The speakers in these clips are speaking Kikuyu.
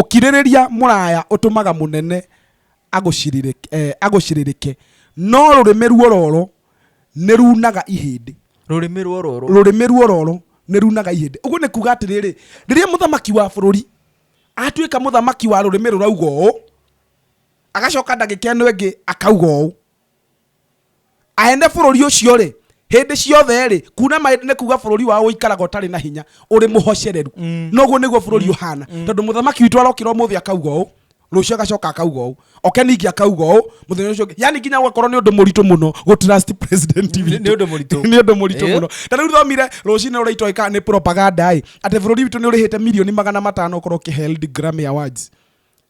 Ũkirĩrĩria mũraya ũtũmaga mũnene agũcirirĩke, no rũrĩmĩ ruororo nĩrunaga ihĩndĩ. Rũrĩmĩ ruororo. Rũrĩmĩ ruororo nĩrunaga ihĩndĩ. Ũguo nĩ kuuga atĩrĩrĩ, rĩrĩa mũthamaki wa bũrũri atuĩka mũthamaki wa rũrĩmĩ rũrauga ũũ, agacoka ndagĩka ĩno ĩngĩ akauga ũũ. aene bũrũri ũcio rĩ hĩndĩ ciothe rĩ kuna maĩ nĩ kuga bũrũri wao ũikaraga ũtarĩ na hinya ũrĩ mũhocereru mm. noguo nĩguo bũrũri mm. ũhana mm. tondũ mũthamaki witũ arokĩra ũmũthĩ akauga ũũ rũciũ agacoka akauga ũũ oke ningĩ akauga ũũ mũthenya ũcio yani nginya gwakorwo nĩ ũndũ mũritũ mũno gå trust president nĩ ũndũ mũritũ nĩ ũndũ mũritũ mũno ta rĩu thomire rũcinĩ rũraitwa ĩka nĩ propaganda ĩ atĩ bũrũri witũ nĩ ũrĩhĩte milioni magana matano korwo kĩ held Grammy awards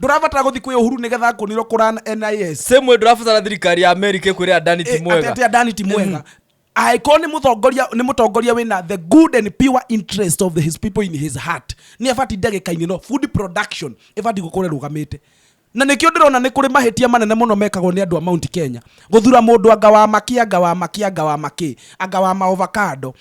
ndũrabatara gũthiĩ kwĩ ũhuru nĩgetha akwonirwo kũran nis same way ndũrabatara thirikari ya america ĩkwĩre adani ti mwega atete adani ti mwega angĩkorwo nĩ mũtongoria nĩ mũtongoria wĩna the good and pure interest of his people in his heart nĩ abati ndagĩka-inĩ no food production ĩbati gũkorwo ĩrũgamĩte na nĩkĩo ndĩrona nĩ kũrĩ mahĩtia manene mũno mekagwo nĩ andũ a mount kenya gũthura mũndũ anga wa makĩ anga wa makĩ anga wa makĩ anga wa maovakando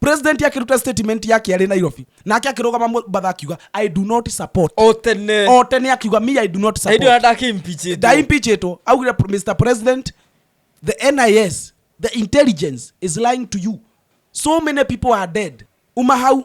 president akĩruta statement yake arĩ nairobi nake akĩrũgama mũbatha akiuga i do not support o tene o tene akiuga me i do not hĩndĩ ĩyo support ndakĩmpichĩtwo ndaimpichĩtwo augire "Pr- mr president the nis the intelligence is lying to you so many people are dead uma hau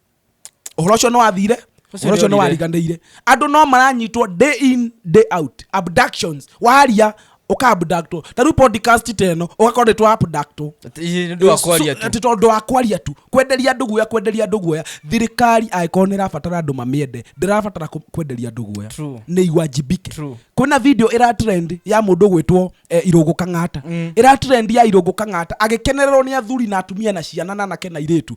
uhoro ucio ni wathire uhoro ucio ni wariganire andu no maranyitwo day in day out abductions waria uka abductwo ta riu podcast teno ugakorwo ni twa abductwo ati tondu wa kwaria tu kwenderia andu guoya kwenderia andu guoya thirikari angikorwo ni irabatara andu mamiende ndirabatara kwenderia andu guoya ni iwajibike kwina video ira trend ya mundu gwitwo eh, irungu kang'ata mm. ira trend ya irungu kang'ata agikenererwo ni athuri na atumia na ciana na anake na iritu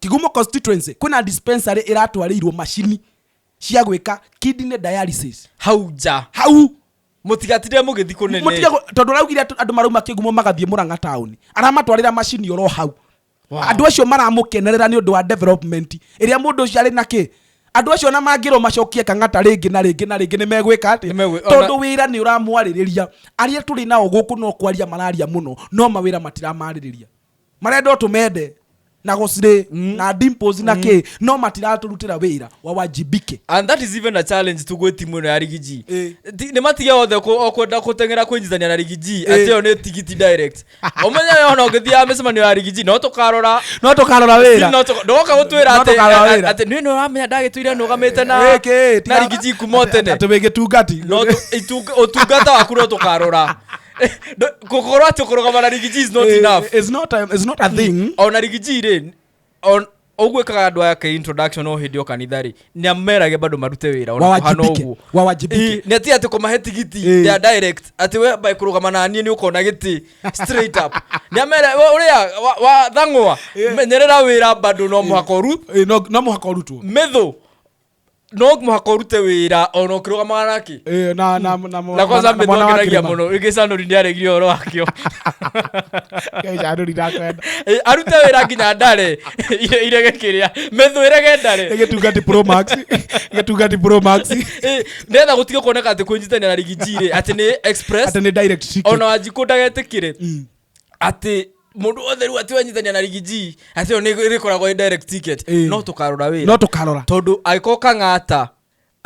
Kigumo constituency kwina dispensary iratwariirwo macini cia gwika kidney dialysis hau nja hau mutigatire mugithi kunene mutige tondu raugire andu marauma kigumo magathie muranga town aramatwarira macini oro hau andu acio maramukenerera ni undu wa development iria mundu ucio ari na ki andu acio na mangirwo macokie kangata ringi na ringi na ringi ni megwika ati tondu wira ni uramwaririria aria turi nao guku no kwaria mararia muno no mawira matiramaririria marenda ũtũmende na gũcirĩ mm. na dimples na mm. kĩ no matiratũrutĩra wĩra wa wajibike and that is even a challenge to gwĩ timu ĩno ya rigi g eh. nĩ matige othe kwenda kũteng'era kwĩnyitania na rigi g eh. atĩ ĩyo nĩ tigiti direct ũmenye we ona ũngĩthiaga mĩcemanio ya rigi g no tũkarora no tũkarora wĩra ndogoka gũtwĩra atĩ nĩ no ramenya ndagĩtũire nũgamĩte na rigi g kuma tene atĩ wĩgĩtungati ũtungata waku no tũkarora No, kokoro acho kurugama na rigiji is not enough Eh, it's not a, it's not a thing ona rigiji rĩ on- ũguo ĩkaga andũ aya ke introduction o hĩndĩ o kanitha rĩ nĩ amerage bado marute wĩra ona kũhana Wawajibike, ũguo wawajibike. Ĩ, nĩ ati atĩ kũmahe tigiti Ĩ. they are direct atĩ we by kũrũgama na niĩ nĩ ũkona gĩtĩ straight up nĩ amere we ũrĩa wa- wa thang'wa menyerera wĩra bado no mũhaka ũru Eh, no no mũhaka ũrutwo mĩthũ no mũhaka ũrute wĩra ona ũkĩrũgamaga nake Eh, na na na na kwanza mbe twakenagia mũno rĩngĩ canũri nĩ aregire ũhoro wakĩo Canũri ndakwenda. Eh, arute wĩra nginya ndare ire- irege kĩrĩa methũ ĩrege ndare Nĩ gĩtungati pro max gĩtungati pro max Eh, nĩgetha gũtige kuoneka atĩ kwĩnyitania na rigiji rĩ atĩ nĩ express atĩ nĩ direct ticket ona wanjikũ ndagetĩkĩre atĩ mũndũ wothe rĩu atĩ wanyitania na rigiji atĩ ĩyo nĩ- ĩrĩkoragwo ĩ direct ticket Ĩĩ. no tũkarora wĩra no tũkarora tondũ agĩkorwo kang'ata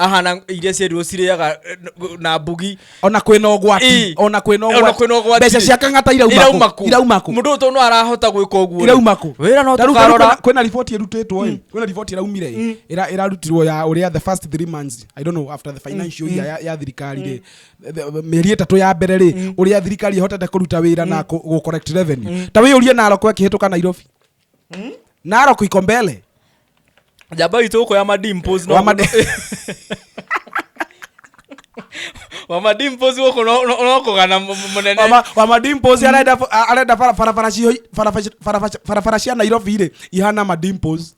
ahana iria ciarirwo cirĩaga eh, na mbugi ona kwĩna Ĩĩ. ũgwati ona kwĩna Ona ũgwati kwĩna ũgwati. mbeca cia kang'ata irauma irauma kũ kũ irauma kũ mũndũ ũyũ tondũ no arahota gwĩka ũguo irauma kũ wĩra no Ta rĩu tũkarora kwĩna- kwĩna riboti ĩrutĩtwo ĩ kwĩna riboti ĩraumire ĩ ĩra- ĩrarutirwo ya ũrĩa the first three months i don't know after the financial year ya- ya thirikari rĩ mieri ĩtatũ ya mbere rĩ mm. ũrĩa thirikari ĩhotete kũruta wĩra na mm. gũ correct revenue mm. ta wĩyũrie naroko ĩkĩhĩtũka nairobi naroko iko mbele njamba witũ ũko ya madimpos no wamadimpos gũkũ no kũgana mũnene wamadimpos arenda barabara cia nairobi rĩ ihana madimpos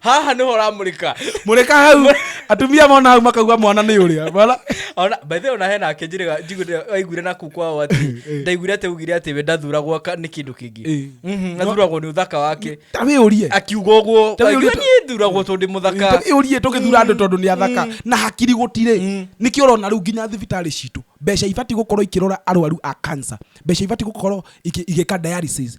haha nĩho ũramũrĩka mũrĩka hau atumia mona hau makauga mwana nĩ ũrĩa Wala- ona by the way ona hena ake njĩrĩga njiguire aiguire na kuu kwao atĩ ndaiguire atĩ ugire atĩ we ndathuragwo ka- nĩ kĩndũ kĩngĩ Eh. Mhm, athuragwo nĩ ũthaka wake ta wĩ ũrie akiuga ũguo Ta wĩ aigua ũrĩa- niĩ thuragwo tondũ ndĩ mũthaka tũgĩ ũrie tũgĩthura andũ tondũ nĩ athaka na hakiri gũtirĩ nĩkĩ ũrona rĩu nginya thibitarĩ citũ mbeca ibatiĩ gũkorwo ikĩrora arwaru a cancer mbeca ibatiĩ gũkorwo iki- igĩka dialysis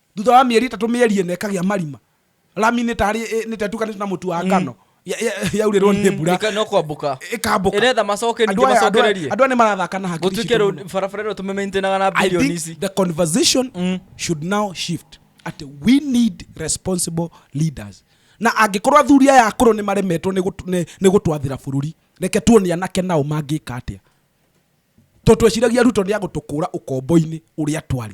thutha wa mĩeri ĩtatũ mĩeri ĩna ĩkagĩa marima rami nĩ tarĩ ĩ- nĩ tetukanĩte na mũtu wa ngano ya- ya- yaurĩrwo nĩ mbura Ĩka- no kwambũka ĩkambũka ĩretha macoke ningĩ Andũ aya- andũ aya- macokererie andũ aya nĩ marathaka na hakiri gũtuĩke citũ rĩu mũno. barabara ĩno tũmĩmaintenaga na I bilioni think ici the conversation mm. should now shift at we need responsible leaders na angĩkorwo athuri aya akũrũ nĩ maremetwo nĩ gũtw- nĩ- nĩ gũtwathĩra bũrũri reke tuone anake nao mangĩka atĩa to tweciragia ruto nĩ agũtũkũra ũkombo-inĩ ũrĩa twarĩ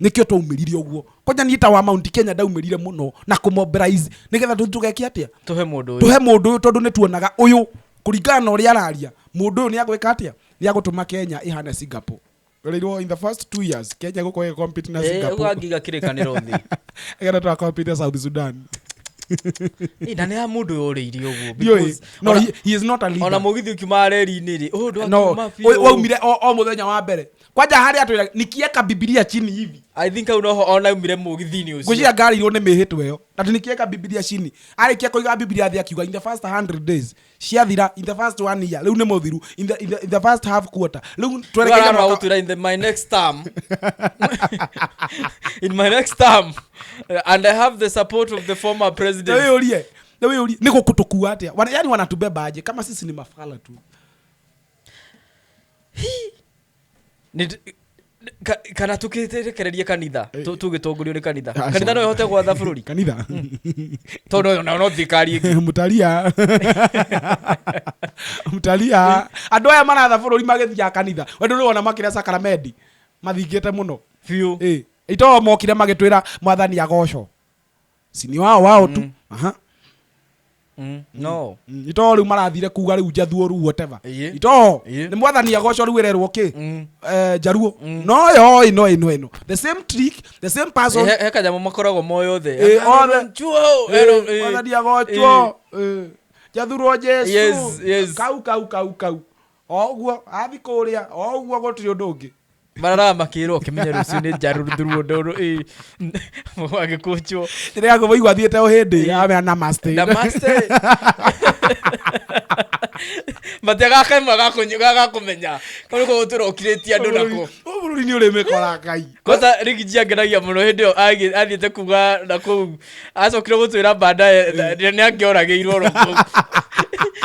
nikio twaumĩrire ũguo kwanja niĩ ta wa mount kenya ndaumĩrire mũno na kũmobilize nĩgetha tũ- tũgeke atĩa tũhe mũndũ ũyũ tũhe mũndũ ũyũ tondũ nĩ tuonaga ũyũ kũringana na ũrĩa araria mũndũ ũyũ nĩ agwĩka atĩa nĩ agũtũma kenya ĩhane singapore Rĩrwo in the first two years kenya gũkorwo ĩgĩcompete na Eh, singapore ũguo angiga kĩrĩkanĩro thĩ ĩgetha twacompete sudan sudan Ĩ, na nĩ ya mũndũ ũyũ ũrĩirie ũguo Ndiũĩ. because no ona- he, he is not a leader ona mũgithi ũkiumaga reri-inĩ rĩ ũyũ ndwakiuma no biũ. wa- waumire o, o muthenya wa mbere kwanja harä atwä ra nikieka bibilia chini hivi i think au noho ona umire mũgithini ũcio ngwĩciria ngarĩirwo nĩ mĩhĩtwa ĩyo na tĩ nikieka bibilia chini arĩkia kũiga bibilia thĩ akiuga in the first 100 days ciathira in the first one year rĩu nĩ mũthiru in the, in the, in the first half quarter rĩu twerekeire Rora mwaka- gũtwĩra in the- my next term in my next term uh, and i have the support of the former president nä gå kå tå kua atä yani wanatubeba aje kama sisi ni mafala tu Nĩ- ka- kana tũkĩrekererie kanitha tũ- tũgĩtongorio nĩ kanitha Aca. kanitha no ĩhote gwatha bũrũri kanitha tondũ yo nayo no thirikari ĩngĩ mutaria mutaria andå aya maratha bå rå ri magä thiaga kanitha wendå nä wona makä rä a sakaramendi mathingä te må no biũ itoo mokire magä twä ra mwathani agoco si nĩ wao wao tu aha Mm, no Mm, nĩ too rĩu marathire kuga rĩu njathuo rĩu whatever Ĩĩ. itoo Ĩĩ. nĩ mwathani agoco rĩu ererwo kĩ Mm. Eh, njaruo no yo ĩno ĩno ĩno the same trick the same person He- he kanyamũ makoragwo moĩ othe Ĩĩ, Ero- othe. ero- chuo, Eh, ero- ĩĩ. mwathani agocwo Eh, njathurwo Yes, jesu yes. kau kau kau kau O ũguo, athi kũrĩa, o ũguo gũtirĩ ũndũ ũngĩ. Mararaga makĩĩrwo ũkĩmenya rũciũ nĩ njaruruthuruo ndũrũ ĩ agĩkũnjwo Njĩra ya gũbũi gwathiĩte o hĩndĩ, amea namaste. namaste mate gaka imwe gakũnyu- gagakũmenya kau nĩko gũtũrokirĩtie andũ nako Ũyũ bũrũri nĩ ũrĩmĩkora Ngai. kwanza rigi jiangeragia muno hindi yo athiite kuga na kuu acokire gutwira bandaye ni angioragirwo ro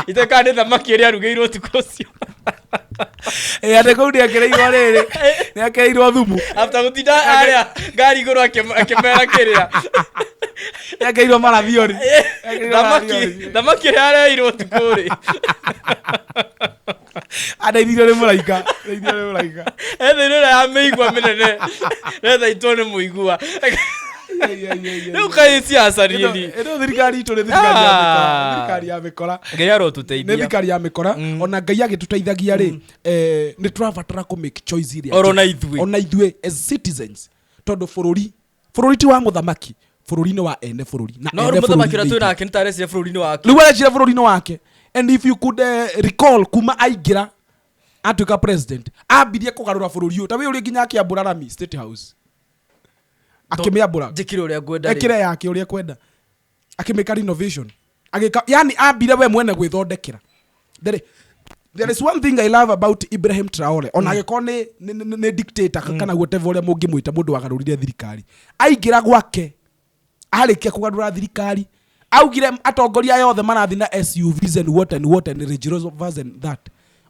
iteka ni thamaki ria arugirwo tuko ucio Eh, ate kau nä akereirwo rä rä nä akereirwo thumu after gutinda aria ngari iguru akimera kiria nä akereirwo marathiori thamaki thamaki ria areirwo tuko ri andaithire rä må raika ndaithire rä må raika ethairä ä rä a mä igua mä nene rethaitwo nä må igua rä u kaä ciacarieni ĩno thirikari itũ nĩ thirikari ya mĩkora. Ah. thirikari ya mĩkora ngai nä arotũteithia thirikari ya mĩkora Mm. ona ngai agĩtũteithagia rĩ eh, nĩ tũrabatara kũ make choice iria Oro njega. na ithuĩ. ona ithuĩ as citizens tondũ bũrũri bũrũri ti wa mũthamaki bũrũri nĩ wa ene bũrũri na no ene rä må thamaki å rä a twä bũrũri nake nä tarecire bå rå ri-inä wake rĩu arecira bũrũri-inĩ wake and if you could uh, recall kuma aingĩra atuĩka president ambirie kũgarũra bũrũri ũyũ ta wĩ ũrĩ nginya akĩambũra rami state house akĩmĩambũra njä kire å rä a ngwenda rĩ. ekĩre yake ũrĩa kwenda akĩmĩka renovation agĩka yani ambire we mwene gwĩthondekera there, there is one thing i love about ibrahim traore ona agĩkorwo nĩ- nĩ- nĩ nĩ dictator kana whatever ũrĩa mũngĩmwĩta mũndũ wagarũrire thirikari aingĩra gwake arĩkia kũgarũra thirikari augire atongoria aya othe marathi na SUVs and what and what and Range Rovers and that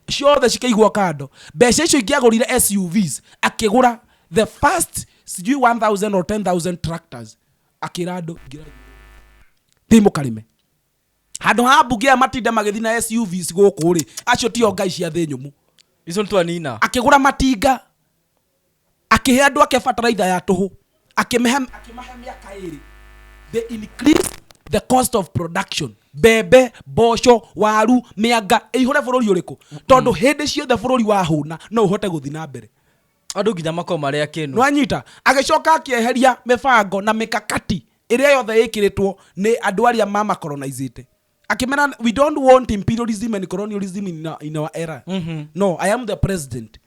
ciothe cikaigwo kando mbeca icio ingĩagũrire SUVs akĩgũra the first sijui 1000 or 10000 tractors akĩra andũ ingĩrai thiĩ mũkarĩme handå ha mbunge aya matinde magĩthi na SUVs gũkũ rĩ acio tio ngai cia thĩ nyũmũ icio nĩ twanina akĩgũra matinga akĩhe andå ake bataraitha ya tũhũ akĩmahe akĩmahe mĩaka ĩrĩ they increase the cost of production mbembe mboco waru mĩanga ĩihũre bũrũri ũrĩkũ tondũ hĩndĩ ciothe bũrũri wahũna no ũhote gũthi na mbere andå nginya makoo marä a kä nä wanyita agĩcoka akĩeheria mĩbango na mĩkakati ĩrĩa yothe ĩkĩrĩtwo nĩ andũ arĩa mamacolonizĩte akĩmera we don't want imperialism and colonialism in, our- in our era Mhm. no i am the president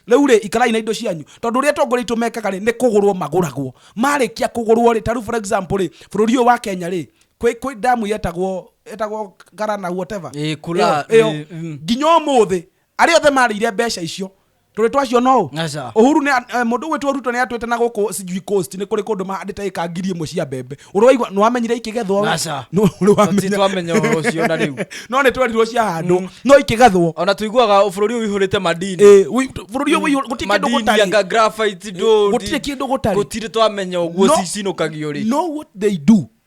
rĩu rĩ ikarai na indo cianyu tondũ ũrĩa atongoria itũ mekaga rĩ nĩ kũgũrwo magũragwo marĩkia kũgũrwo rĩ tarĩu for example rĩ bũrũri ũyũ wa kenya rĩ kwĩ kwĩ damu yetagwo yetagwo garana whatever Ĩ, Kula, Ĩyo- ĩyo. ĩ, mm. nginya ũmũthĩ arĩa othe marĩire mbeca icio tũrĩ twacio no Aca. uhuru nĩ eh, mũndũ ũgwĩtwo ruto nĩ atwĩte na gũkũ sijui coast nĩ kũrĩ kũndũ mahandĩte ĩka ngiri ĩmwe cia mbembe ũrĩ waigua nĩ wamenyire ikĩgethwo we? Aca. Nũ- ũrĩ wamenya. Titwamenya ũhoro ũcio na rĩu. no nĩ twerirwo ciahandwo no ikĩgethwo ona tũiguaga bũrũri ũyũ wĩhũrĩte madini Eh, wĩ- bũrũri ũyũ wĩihũ- gũtirĩ kĩndũ madini gũtarĩ anga graphite ndũri. gũtirĩ kĩndũ gũtarĩ. gũtirĩ twamenya ũguo No- cicinũkagio rĩ no what they do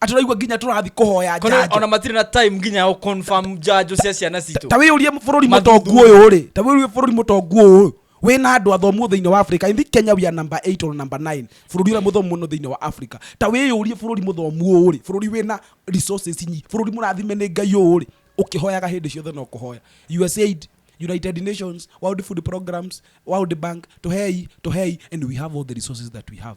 atĩ ũraigua nginya tũrathi kũhoya Kono njanjo ona matirĩ na time nginya ya confirm njanjo cia ciana citũ ta wĩyũrie bũrũri Mathuthuria. mũtongu ũyũ rĩ ta wĩyũrie bũrũri mũtongu ũyũ wĩ na andũ athomu thĩinĩ wa africa ithi kenya we are number 8 or number 9 bũrũri ũrĩa mũthomu mũno thĩinĩ wa africa ta wĩyũrie bũrũri mũthomu ũyũ rĩ bũrũri wĩ na resources nyi bũrũri mũrathime nĩ ngai ũyũ rĩ ũkĩhoyaga hĩndĩ ciothe no kũhoya usaid united nations world food programs world bank tũhei tũhei and we have all the resources that we have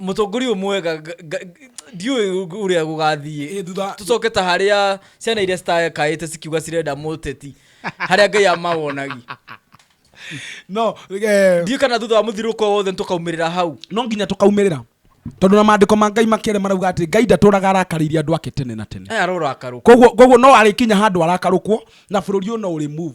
mũtongoria ũyũ mwega nga- nga- ndiũĩ ũrĩa gũgathiĩ Ĩ, thutha- tũcoke ta harĩa ciana iria citakaĩte cikiuga cirenda mũteti harĩa ngai amawonagi no eh, ndiũĩ kana thutha wa mũthirũko wothe tũkaumĩrĩra hau no nginya tũkaumĩrĩra tondå na mandä ko ma ngai makä marauga atä ngai ndatåraga arakarä irie andå ake tene na tene aya arorakarũka koguo koguo no arä kinya handå arakarå kwo na bå rå ri å no å rä move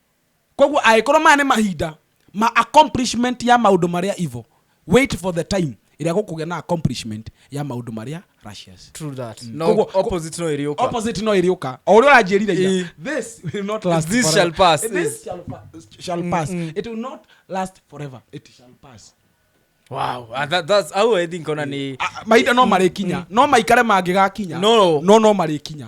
koguo agĩkorwo maya nĩ mahinda ma accomplishment ya maũndũ marĩa evil wait for the time ĩrĩa gũkũgĩa na accomplishment ya maũndũ marĩa righteous True that. No, Koguo- opposite no ĩrĩũka. opposite no ĩrĩũka o ũrĩa ũranjĩrire ira, Ĩ. this will not last This forever. shall pass, This yes. shall pa- shall pass it will not last forever it shall pass Wow, ah, that- that's- au I think ona ni- Ah, mahinda no marĩkinya no maikare mangĩgakinya No. no no marĩkinya